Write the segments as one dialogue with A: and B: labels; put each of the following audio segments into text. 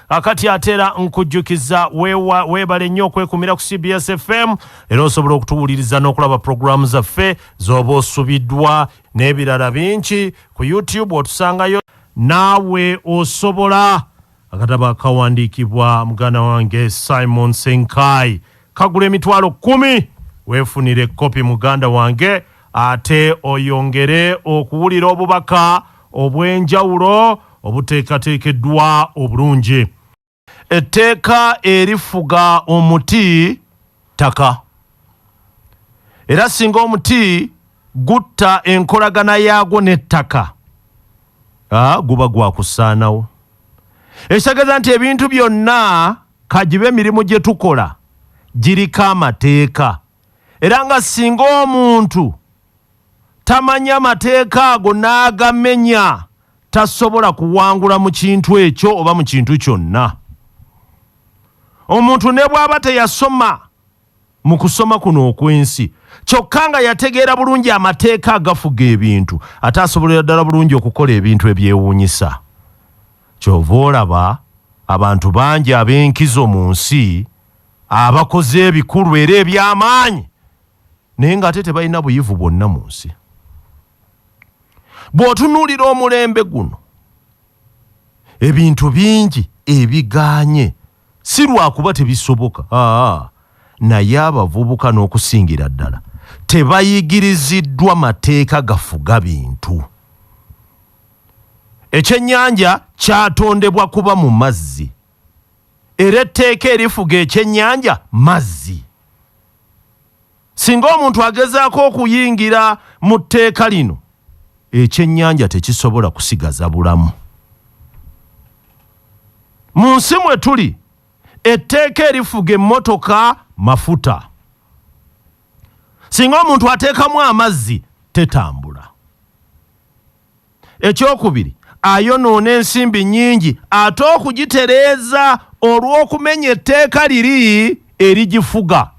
A: akati atera nkujjukiza weebale nnyo okwekumira ku cbs fm era osobola okutuwuliriza n'okulaba pulogulaamu zaffe z'oba osubiddwa n'ebirala bingi ku youtube otusangayo naawe osobola akatabo akawandiikibwa muganda wange simon senkai kagula emitwalo kumi weefunire kopi muganda wange ate oyongere okuwulira obubaka obw'enjawulo obuteekateekeddwa obulungi. Etteeka erifuga omuti ttaka era singa omuti gutta enkolagana yaagwo n'ettaka guba gwa kusaanawo ekitegeeza nti ebintu byonna kagibe emirimu gye tukola giriko amateeka. era nga singa omuntu tamanya mateeka ago n'agamenya tasobola kuwangula mu kintu ekyo oba mu kintu kyonna. Omuntu ne bw'aba teyasoma mu kusoma kuno okw'ensi kyokka nga yategeera bulungi amateeka agafuga ebintu ate asobolera ddala bulungi okukola ebintu ebyewuunyisa. Ky'ova olaba abantu bangi ab'enkizo mu nsi, abakoze ebikulu era eby'amaanyi naye ng'ate tebalina buyivu bwonna mu nsi bw'otunuulira omulembe guno ebintu bingi ebigaanye si lwakuba tebisoboka aa naye abavubuka n'okusingira ddala tebayigiriziddwa mateeka gafuga bintu ekyennyanja kyatondebwa kuba mu mazzi era etteeka erifuga ekyennyanja mazzi. Singa omuntu agezaako okuyingira mu tteeka lino, ekyennyanja tekisobola kusigaza bulamu. Mu nsi mwe tuli, etteeka erifuga emmotoka mafuta. Singa omuntu ateekamu amazzi, tetambula. Ekyokubiri, ayonoona ensimbi nnyingi ate okugitereeza olw'okumenya etteeka liri erigifuga.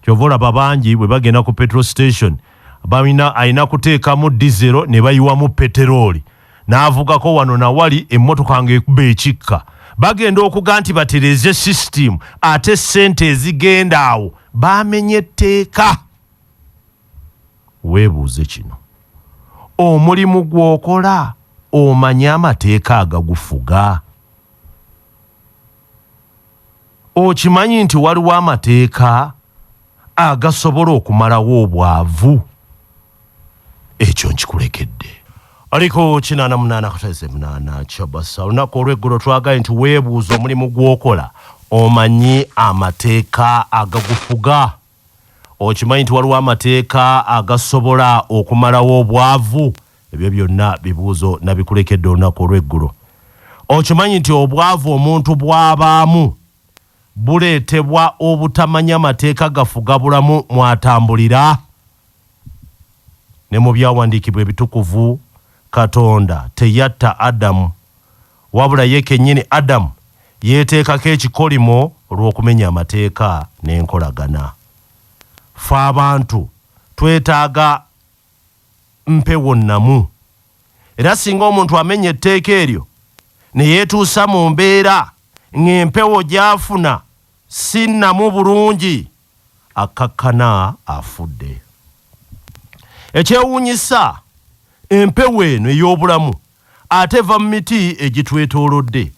A: Kyova olaba bangi bwe bagenda ku petrol station balina alina kuteekamu dizero ne bayiwamu peterooli n'avugako wano na wali emmotoka ng'ekuba ekikka. Bagenda okuga nti batereeze sisitiimu ate ssente ezigenda awo baamenye tteeka. Weebuuze kino, Omulimu gw'okola omanyi amateeka agagufuga? Okimanyi nti waliwo amateeka agasobola okumalawo obwavu? Ekyo nkikulekedde. Ali ku kinaana munaana kuteze munaana kyabasa olunaku olw'eggulo twagaye nti weebuuze omulimu gw'okola omanyi amateeka agagufuga? Okimanyi nti waliwo amateeka agasobola okumalawo obwavu? Ebyo byonna bibuuzo nabikulekedde olunaku olw'eggulo. Okimanyi nti obwavu omuntu bwabaamu buleetebwa obutamanya mateeka gafuga bulamu mwatambulira? Ne mu byawandiikibwa ebitukuvu Katonda teyatta Adamu. Wabula ye kennyini Adam yeeteekako ekikolimo olw'okumenya amateeka n'enkolagana. Ffe abantu twetaaga mpewo nnamu, era singa omuntu amenya etteeka eryo ne yeetuusa mu mbeera ng'empewo gy'afuna si nnamu bulungi, akkakkana afudde. Ekyewuunyisa, empewo eno ey'obulamu, ate eva mu miti egitwetoolodde,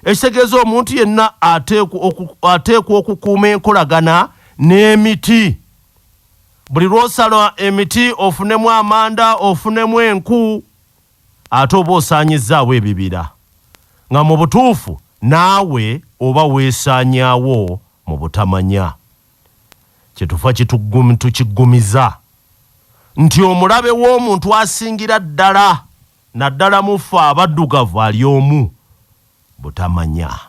A: ekitegeeza omuntu yenna ateekwa okukuuma enkolagana n'emiti. Buli lw'osala emiti ofunemu amanda, ofunemu enku ate oba osaanyizzaawo ebibira nga mu butuufu naawe oba weesaanyaawo mu butamanya. Kyetuva kituggum tukiggumiza nti omulabe w'omuntu asingira ddala naddala mu ffe abaddugavu ali omu, butamanya.